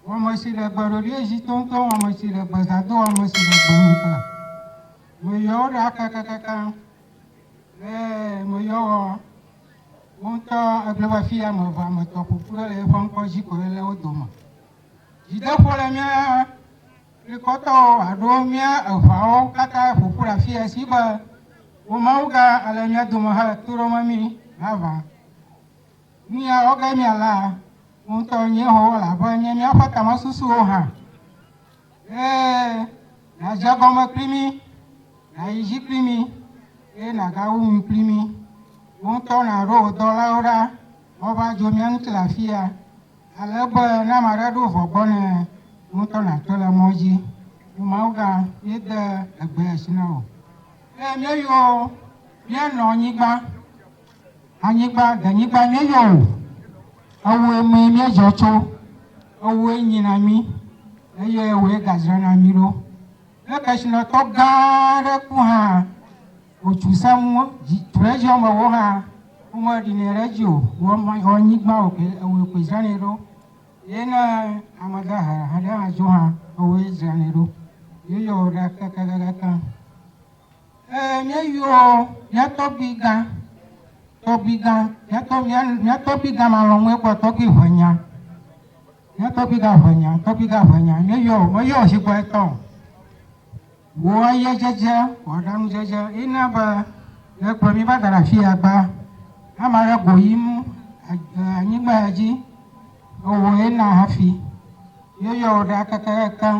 Wɔmesi le gbe ɖoɖi ezi toŋtoŋ Wɔmesi le gbe zã do Wɔmesi le gbe nu ta Meyɔ wò ɖa kakakaka Le meyɔ wɔ Wò ŋutɔ ègblɔe be Afi ame eve ame etɔ̃ ƒo ƒu ɖo le eƒe ŋkɔ dzi ko Ele wo dome Dzideƒo le mía Dukɔtɔwo alo mía eʋawo katã ƒo ƒu ɖe afii Esi be wò Mawu gã ale mía dome hele to ɖom mí Hã va. Miawo ge mialã ŋutɔ Yehowa, elabe nye míaƒe tamesusuwo hã, eye nàdze egɔme kpli mí, nàyi edzi kpli mí, eye nàgawu nu kpli mí. Wò ŋutɔ nàɖo wò dɔlawo ɖa woava dzo mía ŋuti le afia, ale be ne ame aɖe ɖo vɔ̃ gbɔ nɛ, wò ŋutɔ nàtɔe le mɔ dzi. O Mawugã, míede egbe asi na wò, eye míeyɔ wò míenɔ nyigba. Anyigba, denyigba nye yɔ o, ewòe mee míedzɔ tso, ewòe nyi na mí, eye ewòe gadzra na mí ɖo. Ne kesinɔtɔ gã aɖe ku hã, wòtsu sẽŋu, dzi, tuedziɔmewo hã, womeɖinɛ ɖe edzi o, wɔ, wɔ anyigba o ke, ewòe koe dzranɛ ɖo, eye ne ame dahe aɖe hã dzo hã, ewòe dzranɛ ɖo, yeyɔ ɖe kekekekekeŋ. Ɛɛ, míeyɔ mía tɔgbuigã, tɔgbuigã, mía tɔ, mía, mía tɔgbuigã malɔ̃mɔe kpɔ tɔgbui ʋɛnya. Mía tɔgbuigã ʋɛnya, tɔgbuigã ʋɛnya, míeyɔ, meyɔ ʒigbɔ etɔ̃. Wò ayedzedze, wò aɖaŋudzedze ye na be nèkplɔ mí va da ɖe afi ya gbaa. Ame aɖe go yim le anyigba ya dzi, ewòe na hafi míeyɔ wò ɖa kekekekeŋ.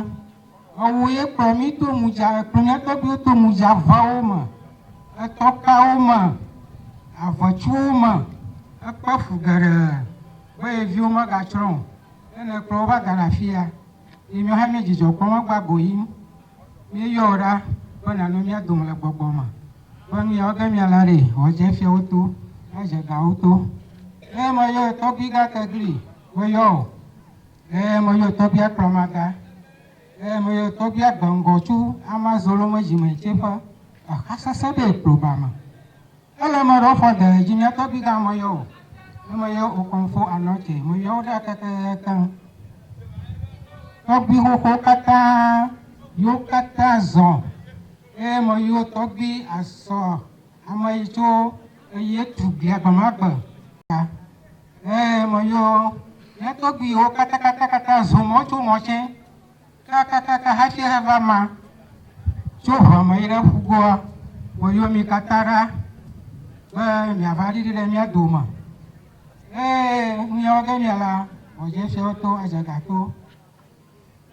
Ewò ye kplɔ mí to ŋudza ekunetɔɖiwo to ŋudzaʋawo me, etɔkawo me, aʋetsuwo me hekpe fu geɖe be ye viwo megatsrɔ̃ o. Ne nèkplɔ wo va da ɖe afi ya yi míawo hã míedzidzɔ kpɔm hegbagboyim. Míeyɔ wò ɖa be nànɔ mía dome le gbɔgbɔ me be nu ya wɔ ge míala ɖi wɔ dze fiawo to nadze gawo to. Eyama yɔ ye tɔgbi gate gli meyɔ o. Eye meyɔ Tobia kplɔmaga, eye meyɔ Tobia gbe ŋgɔ tso ama zoloŋe zime tse ƒe exa sese ɖe ekplo ba me. Ele me ɖɔ fɔ de edzi mia Tobi ga meyɔ o, ye meyɔ Okonfo Anɔ tse, meyɔ wo ɖa kekekekeŋ. Tɔgbi xoxo katã, yo katã zɔ, eye meyɔ Tɔgbi asɔ ame yi tso eye tu glia gbe ma gbe. Ɛɛ, meyɔ mía tɔgbuiwo katakatakata zɔ mɔ tso mɔ tsɛ kakakaka hafi heva ma tso ʋua me yi ɖe ƒugoa. Meyɔ mi katã ɖa be miava ɖiɖi ɖe mía dome. Eye nu ya wɔ ge mia la, Ɔdzefiawo to, Adzaga to.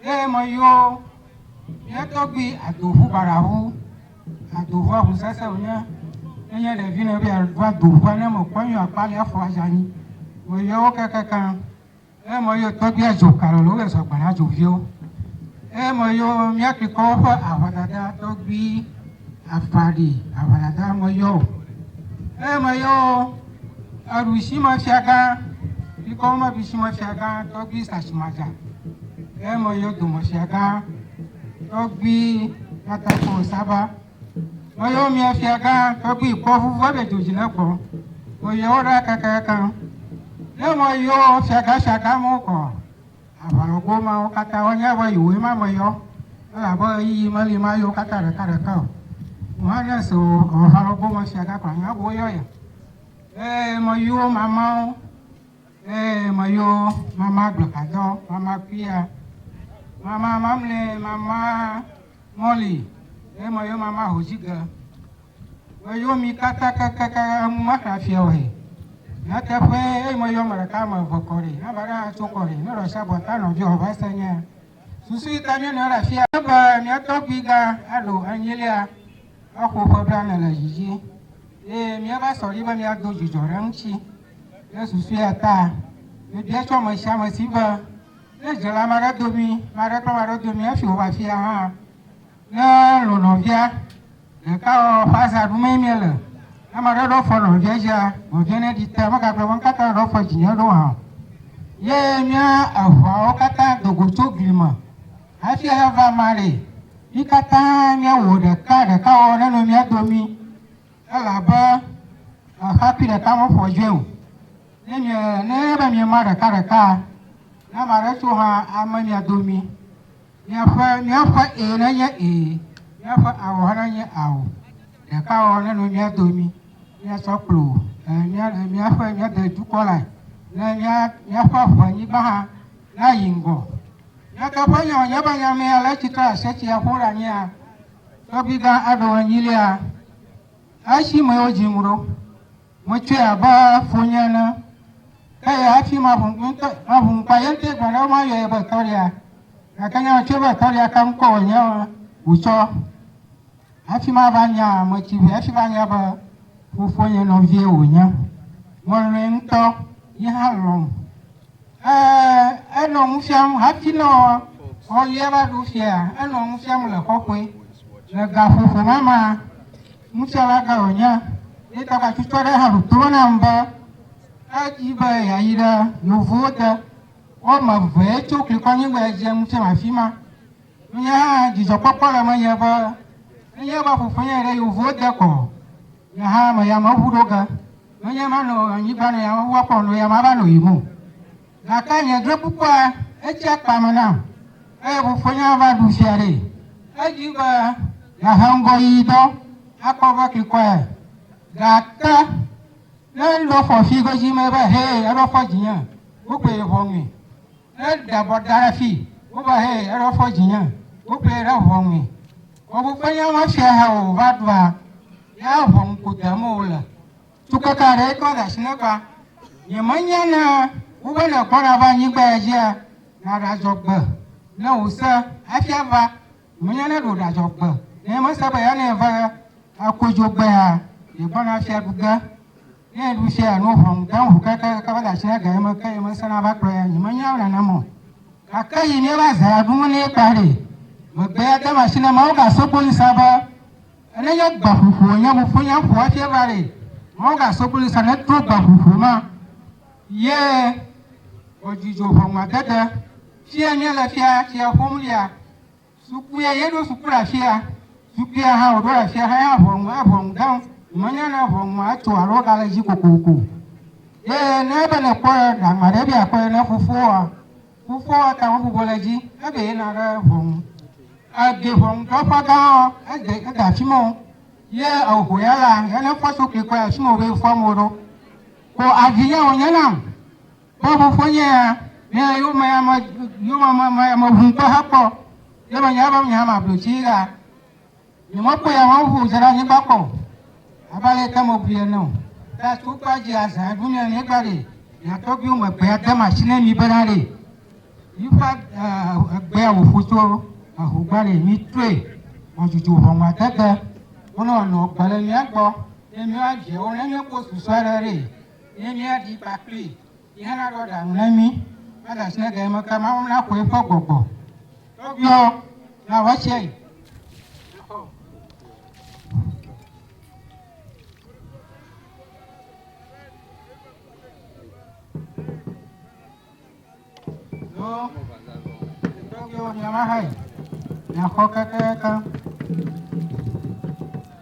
Ɣe me yio, mía tɔgbui ado ʋu baɖa ʋu, ado ʋua ʋu sese wonye. Ne nye ɖevi ne be ado ado ʋua ne me kpɔ yio kpali afɔ azani. Me yio wo kekeke. Ɣe me yio tɔgbui adzo kalo le wobe zɔgba na dzo vio. Ɣe me yio mía klikɔ woƒe aʋa dada tɔgbui. Afa ɖi aʋalagã meyɔ o. Eye meyɔ aɖusimefiagã, bikɔm aɖusimefiagã tɔgbui Sasimadza. Eye meyɔ domefiagã tɔgbui Katakpo Saba. Meyɔ mia fiagã tɔgbui Kpɔʋuʋu aɖe dzodzi ne gbɔ. Meyɔ wo ɖa kakaka. Ne meyɔ fiagãfiagãmewo kɔ, Aʋalɔgowo mawo katã, woanya be yewoe ma me yɔ, elabe ɣeyiɣi meli ma yɔ katã ɖekaɖeka o. Yohanes o, aʋalɔgo me sia gakpɔ anya be woyɔ ye. Ee, meyɔ mamao, ee, meyɔ mama agbekadɔ, mama kpuia, mama mamlɛ, mama mɔli, ee, meyɔ mama hodzige. Meyɔ mi katã kekeake enu maxlẽ fiɔwoe. Nyateƒee, eyi meyɔ ame ɖeka ame eve kɔ ɖi, ne ame aɖe hã tso kɔ ɖi, ne ɖɔsi abɔ ta nɔviwò abe ese ene. Susu yi ta míenɔ ɖe afia. Enye be mía tɔgbuigã alo enyilia exo ƒe blaene le dzi dzi eye míeva sɔ ɖi be míado dzudzɔ ɖe eŋuti. Ɖe susu ya ta mebia tso ame sia ame si be, ne dze le ame aɖe domi, ame aɖe kple ame aɖe domi hafi wòva afia hã, ne lɔ̃ nɔvia, Ɖekawɔwɔ ƒe azaɖu mee míele. Ne ame aɖe ɖɔ fɔ nɔvia dzia, nɔvia neɖi te, megagblɔ be ŋkaka ɖɔ fɔ dzinye ɖo hã o. Ye mía eŋuawo katã do go tso gli me hafi aheva ame aɖee. Mí katã míewɔ ɖeka ɖekawɔwɔ ne nɔ mía domi elabe xexakui ɖeka meƒo dzoe o. Ne mie ne be miema ɖekaɖekaa, ne ame aɖe tso hã ame mia domi. Miaƒe, míaƒe Ee nenye Ee, míaƒe Ao hã nenye Ao. Ɖeka ɔ, nenɔ mía domi, míasɔ kplo e, mía, e, míaƒe, míade dukɔ lae, ne mía, míaƒe ʋe nyigba hã nayi ŋgɔ. Míate ƒe nya wònye be nya mea le tsitre aseti a ƒo ɖe anyia, tɔgbi gã aɖo enyilia, esi me wodzi ŋu ɖo. Metsɔe abe fonye ene. Ke ya hafi maʋu ŋutɔ, maʋu ŋkpa ye ŋutɔe gblɔ ɖe mayɔe be tɔlia. Gake ne metsɔe be tɔlia kam kpɔ wònye wòtsɔ hafi mava nya ame tsi ʋɛ hafi va nya be fofonye nɔvie wònye. Melɔ̃e ŋutɔ, ye hã lɔ̃m. Ee, enɔ nu fiam hafi ne ɔlia va ɖo fiea, enɔ nu fiam le kɔkɔe le gaƒoƒo ma mea. Nufiala gã wònye, ye ta gbatutu aɖe hã ɖo to nam be edi be yeayi ɖe yevuwo te. Woame evee tso Klikɔnyigba dze nu fiam afi ma. Nye hã dzidzɔkpɔkpɔ le menye be nenye be fofonye yi ɖe yevuwo te ko, nye hã meyameŋu ɖo ge. Menye manɔ anyigba nɔ yameŋua kpɔm nɔ yame ava nɔ yiyim o. Gake nye drɔ̃ekpukpua etsi akpa me nam, eye fofonye va ɖu fia ɖee. Edi be yeahe ŋgɔ yi dɔ akpɔ be klikɔe, gake ne eɖo fɔ fi godzi me be, Hɛ, eɖo fɔ dzinye, wokplii ʋɔnui. Ne eɖe abɔ da ɖe fi wobe, Hɛ, eɖo fɔ dzinye, wokplii ɖe ʋɔnui. Fofonye mefia hɛ o, va ɖua, ya ʋɔnu ko dem wòle. Tukeke aɖe yi ke wole asi na gbea, nyemenya ne wobe nègbɔna va anyigba ya dzia, nàɖadzɔ gbe ne wò se hafi ava. Menya ne ɖo ɖadzɔ gbe ne mese be ya ne va akodzo gbea, yegbɔna hafi aɖu ge. Ne eɖu fia nu ʋɔn gã ŋu keke keke va de asi na ga ye me ke ye mese na va kplɔ ya, nyemenya nenema o. Gake yi ne va zea ɖu ŋu ne kpa ɖe, megbea dem asi na Mawu gasɔ kpɔ yi sa be, Nenye gbaƒuƒoa nye mofonya ƒoa fia vare, mɔga sokuli sa ne to gbaƒuƒo ma ye o dzidzo ʋɔnua dede fia nye le fia fia ƒom lia sukuia ye ɖo suku la fia sukuia ha o ɖo la fia ha ya ʋɔnu a ʋɔnu dam menya ne ʋɔnua eto alo ga le dzi kokoko ye ne be ne kpɔ ɖa ma ɖe bia kpɔ ne fofoa Fofoa ate ŋu abublɔ ɖe edzi ebe yeyina ɖe ʋɔnu. Ede ʋɔnudrɔ̃ƒe gãa, ede ede afi ma o. Ye eho ya la, ya ne fɔ tso klikɔe afi ma wòbe fɔ amewo ɖo. Ko avi ya wònye nam be fofonye ya nye yewome ame, yewome ame, ame ŋu ŋutɔ hekpɔ. Ye menyae be menye ame ablotsi ya. Nyemekpɔ ya hã ŋu dze ɖe anyigba kpɔ o, abe ale yi ke mebui ene o. Ke tso kpea dzi azã ɖo ne anyigba ɖi, mia tɔgbuiwo me gbea de masi ne mi bena ɖi. Yiƒe egbea wòƒu tso eho gbɔ ɖi, mi toe wòdzudzɔ ʋɔnu ade gbe. Wonɔ wòanɔ gbe le mia gbɔ, ne mia viawo ne mia kpɔ susɔe ɖe ɖi, ne mia ɖi kpakpli. Yi hã naɖɔ ɖaŋu ne mí va ɖe asi ne ɖe eme ke Mawu naxɔ eƒe gbɔgbɔ. Tɔgbuiwo, nawɔ esia yi. Tɔgbuiwo, miawo hã yi. Miaxɔ kekekeŋ.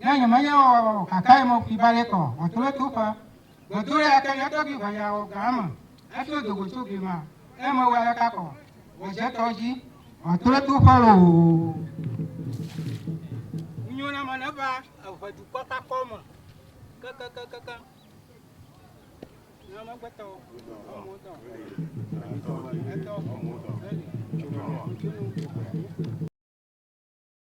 Nya nyɔ manya wɔ wɔ wɔ kaka ye mɔ kwi bale kɔ atolo to fa. Godo ɖe ake nyɔ tɔ bi vanya wɔ ga ame efi o dogo tso bi ma e me wɔ aleka kɔ wɔ je tɔ ji atolo to fa lo o. Nyo na ma ne va ehe du kɔ ka kɔ me ke ke ke ke ke. Na ma gbe tɔ o mo tɔ. Etɔ o mo tɔ. Etɔ o mo tɔ.